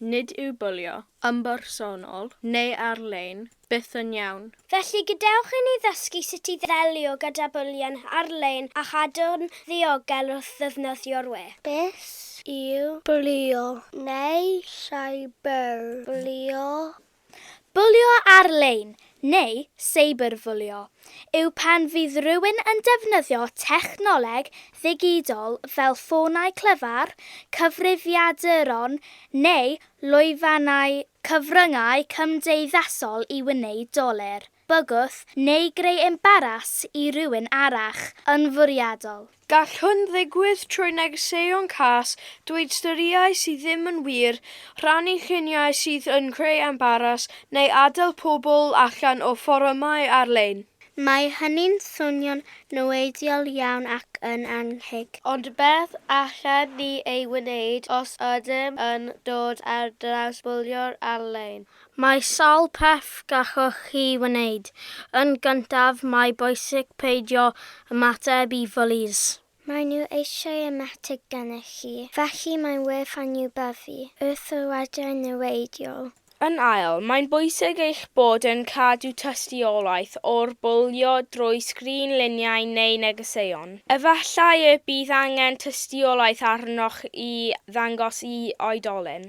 nid yw bwlio, ymbersonol neu ar-lein, byth yn iawn. Felly, gadewch i ni ddysgu sut i ddelio gyda bwlio ar-lein a chadw'n ddiogel wrth ddefnyddio'r we. Beth yw bwlio neu cyberbwlio? Bwlio ar-lein, neu seiberbwlio, yw pan fydd rhywun yn defnyddio technoleg ddigidol fel ffonau clyfar, cyfrifiaduron neu lwyfannau cyfryngau cymdeithasol i wneud dolur. bygwth neu greu embaras i rywun arall yn fwriadol. Gall hwn ddigwydd trwy negeseuon cas, dweud storïau sydd ddim yn wir, rhannu lluniau sydd yn creu embaras, neu adael pobl allan o fforymau ar-lein. Mae hynny'n swnio'n niweidiol iawn ac yn annheg. Ond beth allen ni ei wneud os ydym yn dod ar draws bwlio ar-lein? Mae sawl peth gallwch chi wneud. Yn gyntaf, mae bwysig peidio ymateb i fwlis. Maen nhw eisiau ymateb gennych chi, felly mae'n werth anwybyddu wrth yr adran niweidiol. Yn ail, mae'n bwysig eich bod yn cadw tystiolaeth o'r bwlio drwy sgrin luniau neu negeseuon. Efallai y bydd angen tystiolaeth arnoch i ddangos i oedolyn.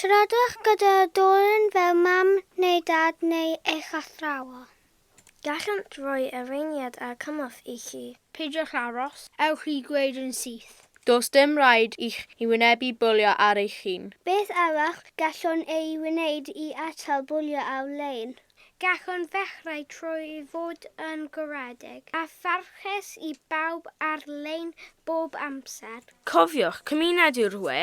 Siaradwch gyda dwrn fel mam neu dad neu eich athrawon. Gallant roi arweiniad a chymorth i chi. Peidiwch aros, ewch i ddweud yn syth. Does dim rhaid i chi wynebu bwlio ar eich hun. Beth arall gallwn ei wneud i atal bwlio ar-lein? Gallwn ddechrau trwy fod yn garedig a pharchus i bawb ar-lein bob amser. Cofiwch, cymuned yw'r we,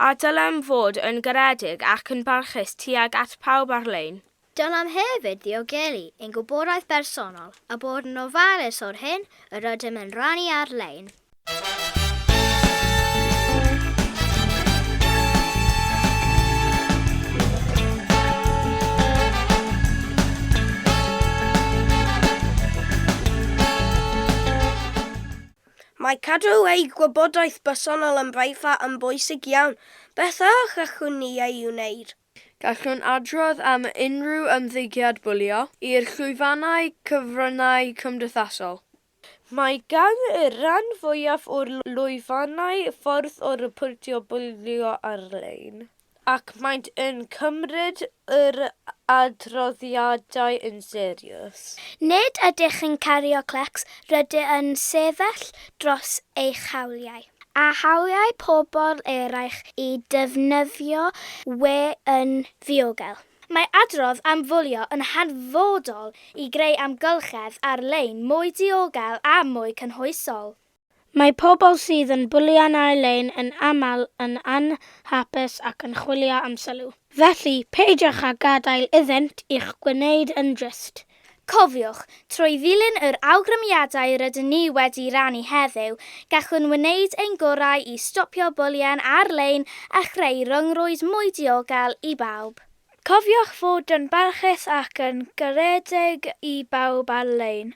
a dylem fod yn garedig ac yn barchus tuag at pawb ar-lein. Dylem hefyd ddiogelu ein gwybodaeth bersonol a bod yn ofalus o'r hyn yr ydym yn rannu ar-lein. Mae cadw ei gwybodaeth bersonol yn brifat yn bwysig iawn. Beth a challwn ni ei wneud? Gallwn adrodd am unrhyw ymddygiad bwlio i'r llwyfannau cyfryngau cymdeithasol. Mae gan y rhan fwyaf o'r lwyfannau ffordd o ryportio bwlio ar-lein, ac maent yn cymryd yr adroddiadau yn serious. Nid ydych yn cario clecs, rydych yn sefyll dros eich hawliau. A hawliau pobl eraill i ddefnyddio we yn ddiogel. Mae adrodd am fwlio yn hanfodol i greu amgylchedd ar-lein mwy diogel a mwy cynhwysol. Mae pobl sydd yn bwlio'n ar-lein yn aml yn anhapus ac yn chwilio am sylw. Felly, peidiwch â gadael iddynt i'ch gwneud yn drist. Cofiwch, trwy ddilyn yr awgrymiadau rydyn ni wedi rannu heddiw, gallwn wneud ein gorau i stopio bwlïan ar-lein a chreu rhyngrwyd mwy diogel i bawb. Cofiwch fod yn barchus ac yn garedig i bawb ar-lein.